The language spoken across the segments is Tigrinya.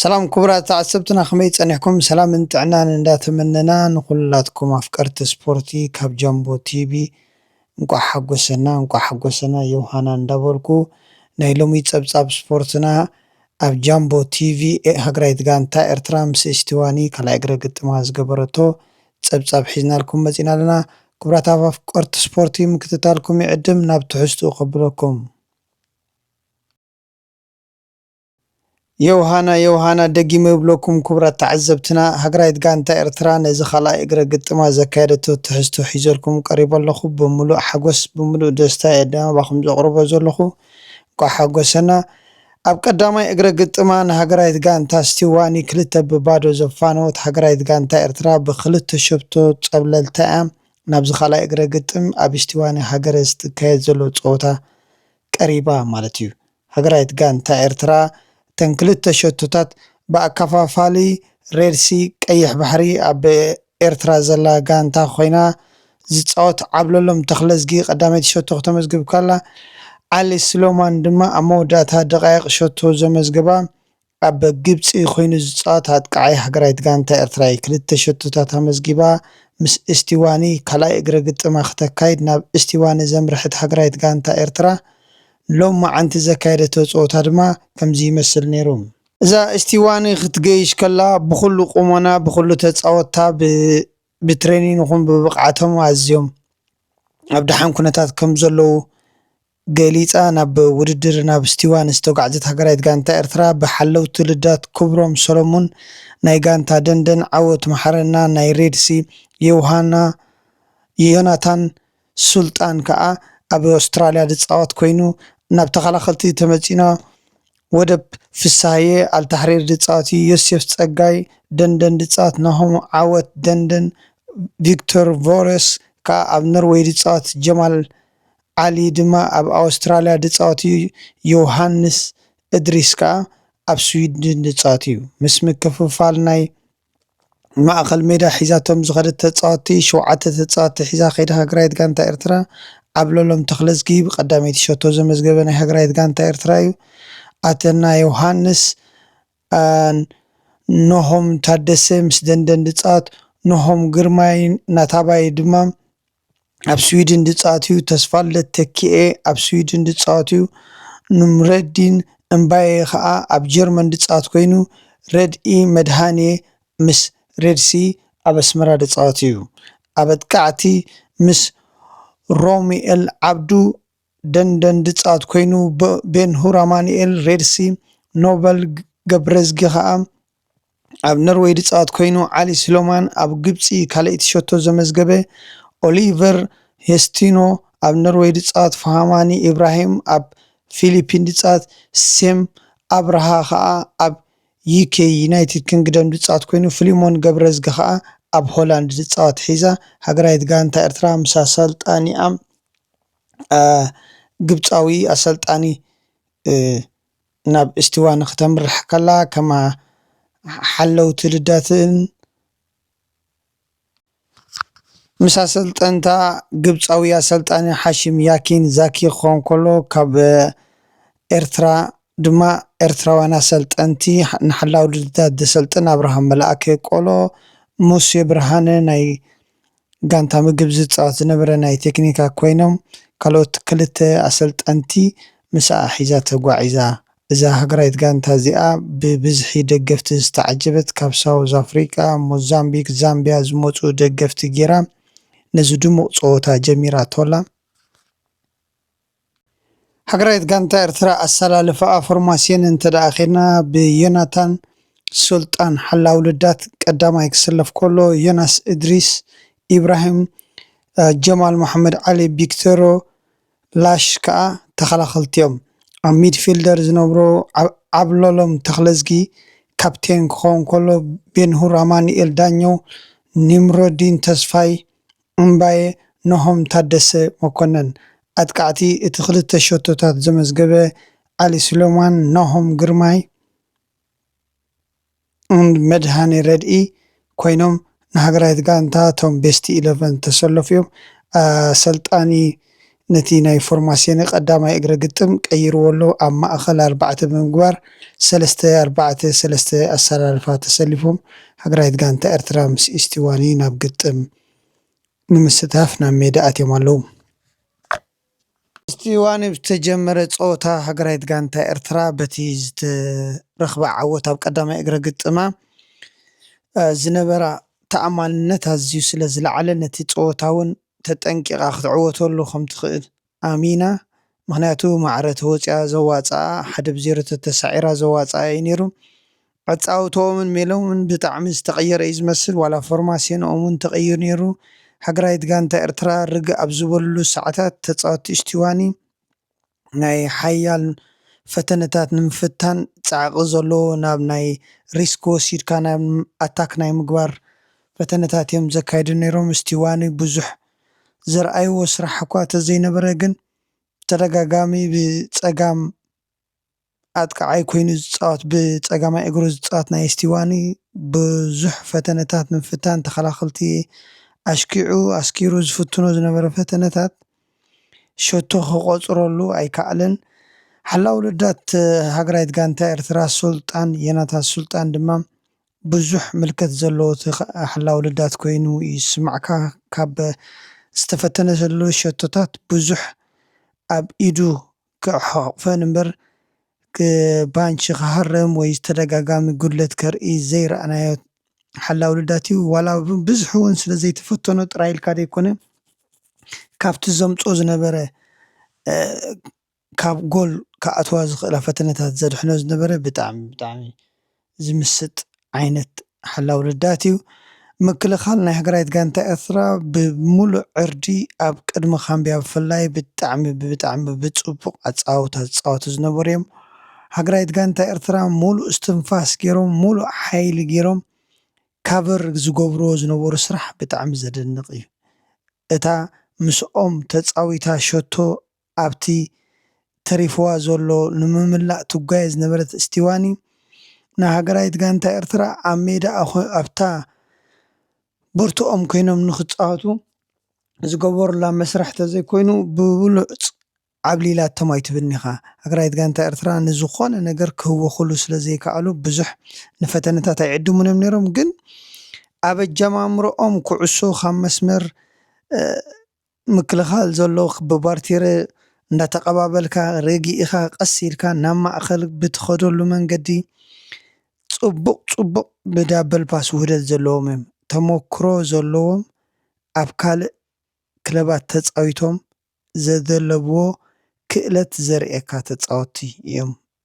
ሰላም ኩቡራት ተዓሰብትና ከመይ ጸኒሕኩም ሰላምን ጥዕናን እንዳ ተመነና ንኩላትኩም ኣፍቀርቲ ስፖርቲ ካብ ጃምቦ ቲቢ እንቋዕ ሓጎሰና እንቋዕ ሓጎሰና ዮውሃና እንዳ በልኩ ናይ ሎሚ ጸብጻብ ስፖርትና ኣብ ጃምቦ ቲቪ ሃገራዊት ጋንታ ኤርትራ ምስ እስቲዋኒ ካልኣይ እግረ ግጥማ ዝገበረቶ ጸብጻብ ሒዝናልኩም መጺና ኣለና ኩቡራት ኣፍቀርቲ ስፖርቲ ምክትታልኩም ይዕድም ናብ ትሕዝትኡ ከብለኩም ዮውሃና ዮውሃና ደጊመ እብለኩም ኩቡራት ተዓዘብትና ሃገራዊት ጋንታ ኤርትራ ነዚ ካልኣይ እግረ ግጥማ ዘካየደቶ ትሕዝቶ ሒዘልኩም ቀሪበ ኣለኹ ብምሉእ ሓጎስ ብምሉእ ደስታ እየ ናባኹም ዘቕርቦ ዘለኹ እንቋዕ ሓጎሰና ኣብ ቀዳማይ እግረ ግጥማ ንሃገራዊት ጋንታ ስቲዋኒ ክልተ ብ ባዶ ዘፋነወት ሃገራዊት ጋንታ ኤርትራ ብ ክልተ ሸቶ ጸብለልታ እያ ናብዚ ካልኣይ እግረ ግጥም ኣብ ስቲዋኒ ሃገረ ዝትካየድ ዘሎ ጸወታ ቀሪባ ማለት እዩ። ሃገራዊት ጋንታ ኤርትራ እተን ክልተ ሸቶታት ብኣካፋፋሊ ሬድ ሲ፣ ቀይሕ ባሕሪ፣ ኣብ ኤርትራ ዘላ ጋንታ ኮይና ዝጻወት ዓብለሎም ተኽለዝጊ ቀዳመይቲ ሸቶ ክተመዝግብ ከላ ዓሊ ስሎማን ድማ ኣብ መወዳእታ ደቓይቕ ሸቶ ዘመዝገባ ኣብ ግብጺ ኮይኑ ዝጻወት ኣጥቃዓይ ሃገራዊት ጋንታ ኤርትራ'ዩ። ክልተ ሸቶታት ኣመዝጊባ ምስ እስቲዋኒ ካልኣይ እግረ ግጥማ ክተካይድ ናብ እስቲዋኒ ዘምርሐት ሃገራዊት ጋንታ ኤርትራ ሎምዓንቲ ዘካየደቶ ጸወታ ድማ ከምዚ ይመስል ነይሩ። እዛ እስቲዋኒ ክትገይሽ ከላ ብኹሉ ቁሞና ብኹሉ ተጻወትታ ብትሬኒን ይኹን ብብቕዓቶም ኣዝዮም ኣብ ደሓን ኩነታት ከምዘለዉ ገሊጻ ናብ ውድድር ናብ ስቲዋን ዝተጓዕዘት ሃገራዊት ጋንታ ኤርትራ ብሓለውቲ ልዳት ኩብሮም ሰሎሙን ናይ ጋንታ ደንደን ዓወት መሓረና ናይ ሬድሲ ዮውሃና ዮናታን ሱልጣን ከኣ ኣብ ኣውስትራልያ ዝጻወት ኮይኑ ናብ ተኸላኸልቲ ተመጺና ወደብ ፍስሃየ ኣልታሕሪር ዝጻወት ዮሴፍ ጸጋይ ደንደን ዝጻወት ናሆም ዓወት ደንደን ቪክቶር ቮረስ ከኣ ኣብ ኖርወይ ዝጻወት ጀማል ዓሊ ድማ ኣብ ኣወስትራልያ ድጻወት'ዩ፣ ዮውሃንስ እድሪስ ከኣ ኣብ ስዊድን ድጻወት'ዩ። ምስ ምክፍፋል ናይ ማእከል ሜዳ ሒዛቶም ዝኸደት ተጻወትቲ፣ ሸውዓተ ተጻወትቲ ሒዛ ከይዳ ሃገራዊት ጋንታ ኤርትራ፣ ዓብለሎም ተኽለዝጊ ብቀዳመይቲ ሸቶ ዘመዝገበ ናይ ሃገራዊት ጋንታ ኤርትራ'ዩ። ኣተና ዮውሃንስ ን ኖሆም ታደሰ ምስ ደንደን ድጻወት፣ ኖሆም ግርማይ ናታባይ ድማ፣ ኣብ ስዊድን ዝጻወት'ዩ፣ ተስፋልደት ተኪኤ ኣብ ስዊድን ዝጻወት'ዩ፣ ኑምረዲን እምባየ ከኣ ኣብ ጀርመን ዝጻወት ኮይኑ፣ ረድኢ መድሃኔ ምስ ሬድሲ ኣብ ኣስመራ ዝጻወት'ዩ። ኣብ ኣጥቃዕቲ ምስ ሮሙኤል ዓብዱ ደንደንድጻት ኮይኑ ቤንሁር ኣማኑኤል፣ ሬድ ሲ፣ ኖበል ገብረዝጊ ከኣ ኣብ ነርወይ ድጻት ኮይኑ ዓሊ ስሎማን ኣብ ግብጺ ካልኣይቲ ሸቶ ዘመዝገበ ኦሊቨር ሄስቲኖ ኣብ ነርወይ ድጻት ፋሃማኒ ኢብራሂም ኣብ ፊሊፒን ድጻት ሴም ኣብርሃ ከኣ ኣብ ዩኬ ዩናይትድ ክንግደም ድጻት ኮይኑ ፍሊሞን ገብረዝጊ ከኣ ኣብ ሆላንድ ድጻት ሒዛ ሃገራዊት ጋንታ ኤርትራ ምስ ኣሰልጣኒኣ ግብጻዊ ኣሰልጣኒ ናብ እስቲዋን ኽተምርሕ ከላ ከማ ሓለውቲ ልደትን ምስ ኣሰልጠንታ ግብጻዊ ኣሰልጣኒ ሓሺም ያኪን ዛኪ ክኾን ከሎ ካብ ኤርትራ ድማ ኤርትራውያን ኣሰልጠንቲ ንሓላው ልደት ዘሰልጥን ኣብርሃም መልኣከ ቆሎ ሙሴ ብርሃነ ናይ ጋንታ ምግብ ዝጻወት ዝነበረ ናይ ቴክኒካ ኮይኖም ካልኦት ክልተ ኣሰልጠንቲ ምሳኣ ሒዛ ተጓዒዛ። እዛ ሃገራዊት ጋንታ እዚኣ ብብዝሒ ደገፍቲ ዝተዓጀበት ካብ ሳውዝ ኣፍሪቃ፣ ሞዛምቢክ፣ ዛምቢያ ዝመጹ ደገፍቲ ጌራ ነዚ ድሙቕ ጸወታ ጀሚራቶ'ላ። ሃገራዊት ጋንታ ኤርትራ ኣሰላልፋኣ ፎርማስዮን እንተደኣ ኬድና ብዮናታን ሱልጣን ሓላዊ ልዳት ቀዳማይ ክስለፍ ከሎ ዮናስ እድሪስ ኢብራሂም ጀማል መሓመድ ዓሊ ቢክተሮ ላሽ ከኣ ተኸላኸልቲ'ዮም ኣብ ሚድፊልደር ዝነብሮ ዓብለሎም ተኽለዝጊ ካፕቴን ክኸውን ከሎ ቤንሁር ኣማኑኤል ዳኘው ኒምሮዲን ተስፋይ እምባየ ናሆም ታደሰ መኮነን፣ ኣጥቃዕቲ እቲ ክልተ ሸቶታት ዘመዝገበ ዓሊ ሱሌማን፣ ናሆም ግርማይ ን መድሃኔ ረድኢ ኮይኖም ንሃገራዊት ጋንታ ቶም ቤስት ኢለቨን ዝተሰለፉ'ዮም። ኣሰልጣኒ ነቲ ናይ ፎርማሲዮነ ቀዳማይ እግረ ግጥም ቀይርዎ ኣሎ፣ ኣብ ማእኸል ኣርባዕተ ብምግባር ሰለስተ ኣርባዕተ ሰለስተ ኣሰላልፋ ተሰሊፎም ሃገራዊት ጋንታ ኤርትራ ምስ ኢስቲዋኒ ናብ ግጥም ንምስታፍ ናብ ሜዳ ኣትዮም ኣለዉ። ኢስቲዋኒ ብዝተጀመረ ፀወታ ሃገራዊት ጋንታ ኤርትራ በቲ ዝተረኽበ ዓወት ኣብ ቀዳማይ እግረ ግጥማ ዝነበራ ተኣማንነት ኣዝዩ ስለዝለዓለ ነቲ ፀወታ ውን ተጠንቂቃ ክትዕወተሉ ከምትኽእል ኣሚና ምኽንያቱ ማዕረ ተወጺኣ ዘዋጽኣ ሓደ ብ ዜሮ ተተሳዒራ ዘዋጽኣ እዩ ኔሩ ኣጻውትኦምን ሜሎምን ብጣዕሚ ዝተቀየረ እዩ ዝመስል ዋላ ፎርማሴንኦም ውን ተቀይሩ ኔሩ ሃገራዊት ጋንታ ኤርትራ ርግእ ኣብ ዝበሉሉ ሳዓታት ተጻወቲ እሽቲዋኒ ናይ ሓያል ፈተነታት ንምፍታን ጻዕቒ ዘሎ ናብ ናይ ሪስክ ወሲድካ ናብ ኣታክ ናይ ምግባር ፈተነታት እዮም ዘካይዱ ነይሮም። ስቲዋኒ ብዙሕ ዘርኣይዎ ስራሕ እኳ ተዘይነበረ ግን ብተደጋጋሚ ብጸጋም ኣጥቃዓይ ኮይኑ ዝጻወት ብጸጋማይ እግሩ ዝጻወት ናይ ስቲዋኒ ብዙሕ ፈተነታት ምፍታን ተኸላኸልቲ ኣሽኪዑ ኣስኪሩ ዝፍትኖ ዝነበረ ፈተነታት ሸቶ ክቆጽረሉ ኣይካኣለን ሓላዊ ረዳት ሃገራይት ጋንታ ኤርትራ ሱልጣን የናታን ሱልጣን ድማ ብዙሕ ምልከት ዘለዎ ሓላዊ ረዳት ኮይኑ ይስማዕካ ካብ ዝተፈተነሉ ሸቶታት ብዙሕ ኣብ ኢዱ ክሕቕፈን እምበር ባንቺ ክሃረም ወይ ዝተደጋጋሚ ጉድለት ከርኢ ዘይረኣናዮ ሓላዊ ልዳት እዩ። ዋላ ብብዝሒ እውን ስለ ዘይተፈተኖ ጥራይ ኢልካ ዘይኮነ ካብቲ ዘምጽኦ ዝነበረ ካብ ጎል ክኣትዋ ዝኽእላ ፈተነታት ዘድሕኖ ዝነበረ ብጣዕሚ ብጣዕሚ ዝምስጥ ዓይነት ሓላው ልዳት እዩ። ምክልኻል ናይ ሃገራዊት ጋንታ ኤርትራ ብምሉእ ዕርዲ ኣብ ቅድሚ ካምብያ ብፍላይ ብጣዕሚ ብጣዕሚ ብጽቡቕ ኣጻዋውታ ዝጻወቱ ዝነበሩ እዮም። ሃገራዊት ጋንታ ኤርትራ ምሉእ እስትንፋስ ጌሮም ምሉእ ሓይሊ ጌሮም ካቨር ዝገብርዎ ዝነበሩ ስራሕ ብጣዕሚ ዘደንቕ እዩ። እታ ምስኦም ተጻዊታ ሸቶ ኣብቲ ተሪፍዋ ዘሎ ንምምላእ ትጓየ ዝነበረት እስቲዋኒ፣ ንሃገራዊት ጋንታ ኤርትራ ኣብ ሜዳ ኣብታ ቦርትኦም ኮይኖም ንኽጻወቱ ዝገበሩላ መስርሕ ተዘይኮይኑ ብብሉጽ ዓብሊላቶም ኣይትብልኒኻ። ሃገራዊት ጋንታ ኤርትራ ንዝኾነ ነገር ክህወኹሉ ስለዘይከኣሉ ብዙሕ ንፈተነታት ኣይዕድሙን'ዮም ነይሮም፣ ግን ኣብ ኣጀማምርኦም ኩዕሶ ካብ መስመር ምክልኻል ዘሎ ክብባር ቲረ እንዳተቐባበልካ ረጊእኻ ቀስ ኢልካ ናብ ማእኸል ብትኸደሉ መንገዲ ፅቡቕ ፅቡቕ ብዳበል ፓስ ውህደት ዘለዎም እዮም ተሞክሮ ዘለዎም ኣብ ካልእ ክለባት ተፃዊቶም ዘደለብዎ ክእለት ዘርእየካ ተፃወትቲ እዮም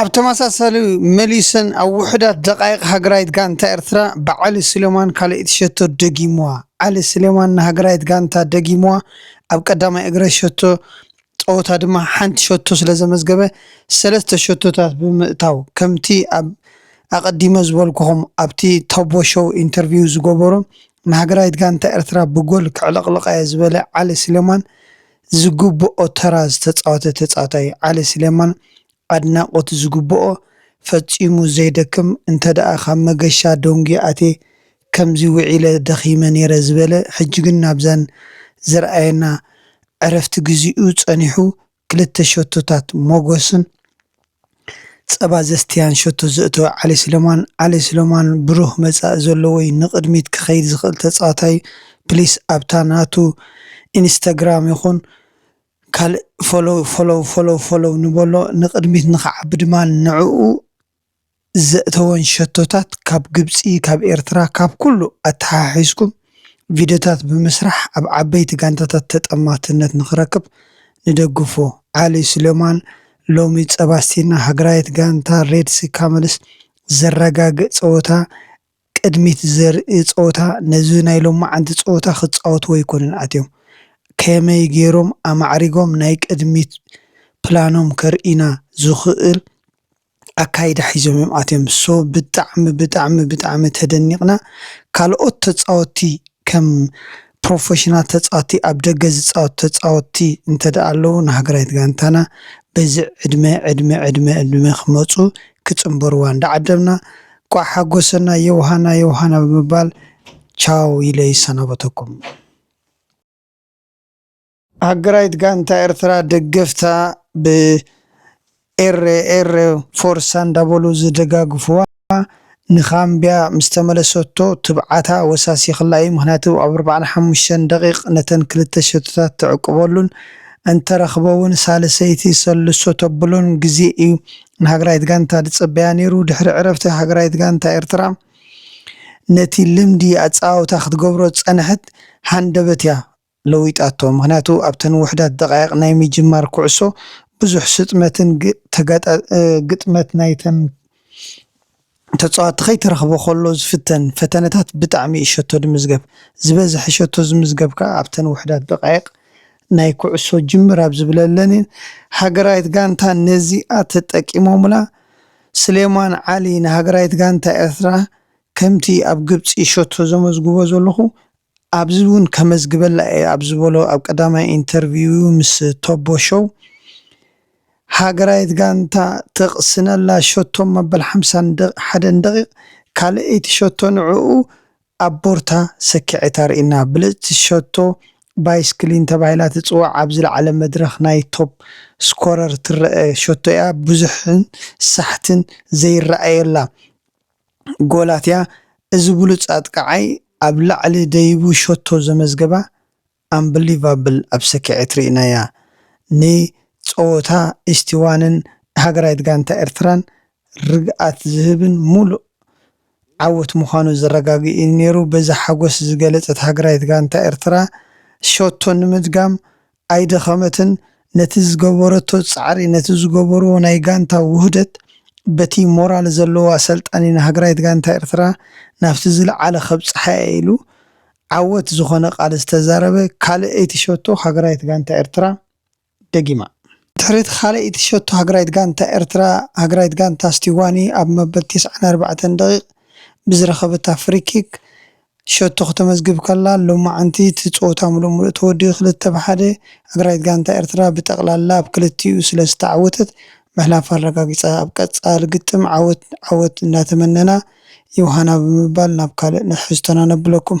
ኣብ ተመሳሳሊ መሊሰን ኣብ ውሑዳት ደቓይቕ ሃገራዊት ጋንታ ኤርትራ ብዓሊ ሱሌማን ካልኣይቲ ሸቶ ደጊሙዋ። ዓሊ ሱሌማን ንሃገራዊት ጋንታ ደጊሙዋ ኣብ ቀዳማይ እግረ ሸቶ ጸወታ ድማ ሓንቲ ሸቶ ስለ ዘመዝገበ ሰለስተ ሸቶታት ብምእታው ከምቲ ኣብ ኣቀዲመ ዝበልኩኹም ኣብቲ ታቦ ሾው ኢንተርቪው ዝገበሮ ንሃገራዊት ጋንታ ኤርትራ ብጎል ከዕለቅልቃየ ዝበለ ዓሊ ስሌማን ዝግብኦ ተራ ዝተጻወተ ተጻዋታይ ዓሊ ስሌማን ኣድናቆት ዝግብኦ ፈጺሙ ዘይደክም እንተደኣ ካብ መገሻ ደንጉየ ኣትየ ከምዚ ውዒለ ደኺመ ኔረ ዝበለ ሕጂ ግን ናብዛን ዘርኣየና ዕረፍቲ ግዚኡ ጸኒሑ ክልተ ሸቶታት ሞጎስን ጸባ ዘስትያን ሸቶ ዘእተወ ዓሊ ስለማን ዓሊ ስለማን ብሩህ መጻኢ ዘለዎ'ዩ ንቅድሚት ክኸይድ ዝኽእል ተጻዋታይ'ዩ ፕሊስ ኣብታ ናቱ ኢንስታግራም ይኹን ካልእ ፎሎው ፎሎው ፎሎው ፎሎው ንበሎ ንቅድሚት ንኽዓቢ ድማ ንዕኡ ዘእተወን ሸቶታት ካብ ግብጺ ካብ ኤርትራ ካብ ኩሉ ኣተሓሒዝኩም ቪድዮታት ብምስራሕ ኣብ ዓበይቲ ጋንታታት ተጠማትነት ንኽረክብ ንደግፎ ዓሊ ሱሌማን ሎሚ ጸባስቲና ሃገራዊት ጋንታ ሬድሲ ካመልስ ዘረጋግእ ጸወታ ቅድሚት ዘርኢ ጸወታ ነዚ ናይ ሎምዓንቲ ጸወታ ክጻወትዎ ኣይኮኑን ኣትዮም። ከመይ ጌሮም ኣማዕሪጎም ናይ ቅድሚት ፕላኖም ከርእዩና ዝኽእል ኣካይዳ ሒዞም እዮም ኣትዮም። so ብጣዕሚ ብጣዕሚ ብጣዕሚ ተደኒቕና። ካልኦት ተጻወቲ ከም ፕሮፈሽናል ተጻወቲ ኣብ ደገ ዝጻወቱ ተጻወቲ እንተድኣ ኣለዉ ንሃገራዊት ጋንታና በዚ ዕድመ ዕድመ ዕድመ ዕድመ ክመጹ ክጽንበርዋ እንዳዓደምና እንቋዕ ሓጎሰና ዮውሃና ዮውሃና ብምባል ቻው ኢለ ይሰናበተኩም። ሃገራዊት ጋንታ ኤርትራ ደገፍታ ብ ኤረ ኤረ ፎርሳ እንዳበሉ ዝደጋግፍዋ ን ኻምብያ ምስ ተመለሰቶ ትብዓታ ወሳሲኽላ እዩ ምኽንያቱ ኣብ ኣርብዓን ሓሙሽተን ደቒቕ ነተን ክልተ ሸቶታት ተዕቁበሉን እንተረኽበ ውን ሳልሰይቲ ሰልሶ ተብሎን ግዜ እዩ ንሃገራዊት ጋንታ ዝጸበያ ነይሩ። ድሕሪ ዕረፍቲ ሃገራዊት ጋንታ ኤርትራ ነቲ ልምዲ ኣጸዋውታ ክትገብሮ ዝጸንሐት ሃንደበት እያ ለዊጣቶ። ምኽንያቱ ኣብተን ውሑዳት ደቓይቕ ናይ ምጅማር ኩዕሶ ብዙሕ ስጥመትን ግጥመት ናይተን ተጻወቲ ከይተረኽበ ከሎ ዝፍተን ፈተነታት ብጣዕሚ እዩ ሸቶ ድምዝገብ። ዝበዝሐ ሸቶ ዝምዝገብ ከኣ ኣብተን ውሑዳት ደቓይቕ ናይ ኩዕሶ ጅምር ኣብ ዝብለለን እየን። ሃገራዊት ጋንታ ነዚኣ ተጠቂሞምላ። ስሌማን ዓሊ ንሃገራዊት ጋንታ ኤርትራ ከምቲ ኣብ ግብጺ ሸቶ ዘመዝግቦ ዘለኹ ኣብዚ እውን ከመዝግበላ እየ ኣብ ዝበሎ ኣብ ቀዳማይ ኢንተርቪው'ዩ ምስ ቶቦ ሾው ሃገራዊት ጋንታ ትቕስነላ ሸቶ መበል ሓምሳን ሓደን ደቒቕ ካልኣይቲ ሸቶ ንዕኡ ኣብ ቦርታ ሰኪዔት ኣርእዩና። ብልጽቲ ሸቶ ባይስክሊን ተባሂላ ትጽዋዕ ኣብ ዝለዓለ መድረኽ ናይ ቶፕ ስኮረር ትረኣ ሸቶ'ያ ብዙሕን ሳሕትን ዘይረኣየላ። ጎላትያ እዚ ብሉጽ ኣጥቃዓይ ኣብ ላዕሊ ደይቡ ሸቶ ዘመዝገባ ኣምብሊቫብል ኣብ ሰኪዔት ሪኢናያ ን ጸወታ ኢስቲዋንን ሃገራዊት ጋንታ ኤርትራን ርግኣት ዝህብን ሙሉእ ዓወት ምዃኑ ዘረጋግእ ኢዩ ኔሩ በዚ ሓጎስ ዝገለጸት ሃገራዊት ጋንታ ኤርትራ ሸቶ ንምድጋም ኣይደኸመትን ነቲ ዝገበረቶ ጻዕሪ ነቲ ዝገበርዎ ናይ ጋንታ ውህደት በቲ ሞራል ዘለዎ ኣሰልጣኒ ንሃገራዊት ጋንታ ኤርትራ ናብቲ ዝልዓለ ከብጽሓ'የ ኢሉ ዓወት ዝኾነ ቃል ዝተዛረበ ካልኣይቲ ሸቶ ሃገራዊት ጋንታ ኤርትራ ደጊማ። ድሕሪ'ቲ ካልኣይቲ ሸቶ ሃገራዊት ጋንታ ኤርትራ ሃገራዊት ጋንታ ስቲዋኒ ኣብ መበል ቴስዓን ኣርባዕተን ደቒቕ ብዝረኸበታ ፍሪኪክ ሸቶ ክተመዝግብ ከላ ሎማዕንቲ እቲ ፀወታ ምሉእ ምሉእ ተወዲኡ ክልተ ብ ሓደ ኣግራይት ጋንታ ኤርትራ ብጠቕላላ ኣብ ክልቲኡ ስለ ዝተዓወተት ምሕላፋ ኣረጋጊፃ። ኣብ ቀፃሊ ግጥም ዓወት ዓወት እንዳተመነና ዮውሃና ብምባል ናብ ካልእ ንሕዝቶና ነብለኩም።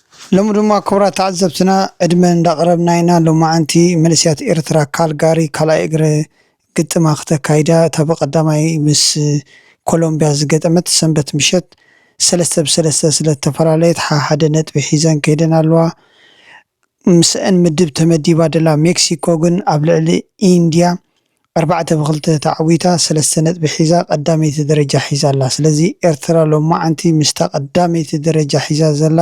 ሎሚ ድማ ክቡራት ተዓዘብትና ዕድመ እንዳቅረብና ኢና ሎማዓንቲ መንእሰያት ኤርትራ ካልጋሪ ካልኣይ እግረ ግጥማ ክተካይዳ እታ ብቀዳማይ ምስ ኮሎምብያ ዝገጠመት ሰንበት ምሸት ሰለስተ ብ ሰለስተ ስለተፈላለየት ሓሓደ ነጥቢ ሒዘን ከይደን ኣለዋ ምስኣን ምድብ ተመዲባ ደላ ሜክሲኮ ግን ኣብ ልዕሊ ኢንድያ ኣርባዕተ ብክልተ ተዓዊታ ሰለስተ ነጥቢ ሒዛ ቀዳመይቲ ደረጃ ሒዛ ኣላ። ስለዚ ኤርትራ ሎምዓንቲ ምስታ ቀዳመይቲ ደረጃ ሒዛ ዘላ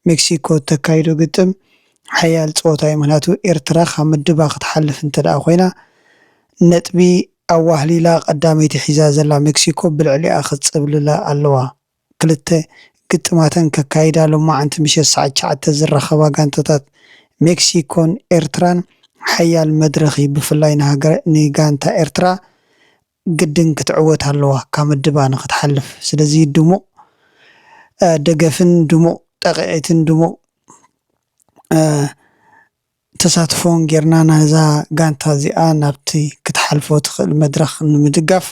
ሜክሲኮ እተካይዶ ግጥም ሓያል ጸወታ እዩ። ምክንያቱ ኤርትራ ካብ ምድባ ክትሓልፍ እንተደኣ ኮይና ነጥቢ ኣዋህሊላ ቀዳመይቲ ሒዛ ዘላ ሜክሲኮ ብልዕሊኣ ክትጽብልላ ኣለዋ። ክልተ ግጥማተን ከካይዳ ሎማዕንቲ ምሸት ሰዓት ትሽዓተ ዝራኸባ ጋንታታት ሜክሲኮን ኤርትራን ሓያል መድረኽ'ዩ ብፍላይ ንጋንታ ኤርትራ ግድን ክትዕወት ኣለዋ ካብ ምድባ ንኽትሓልፍ ስለዚ ድሙቕ ደገፍን ድሙቕ ጣቒዒትን ድሙቕ ተሳትፎን ጌርና ነዛ ጋንታ እዚኣ ናብቲ ክትሓልፎ ትኽእል መድረኽ ንምድጋፍ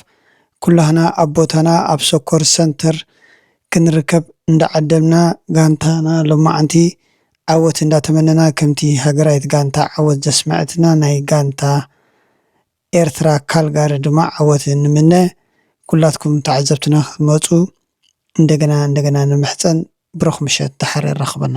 ኩላህና ኣብ ቦታና ኣብ ሶኮር ሰንተር ክንርከብ እንዳዓደምና ጋንታና ሎማዓንቲ ዓወት እንዳተመነና ከምቲ ሃገራዊት ጋንታ ዓወት ዘስመዐትና ናይ ጋንታ ኤርትራ ካልጋሪ ድማ ዓወት ንምነ ኩላትኩም ተዓዘብትና ክትመጹ እንደገና እንደገና ንምሕጸን ብሩኽ ምሸት ደሓር የራኽበና።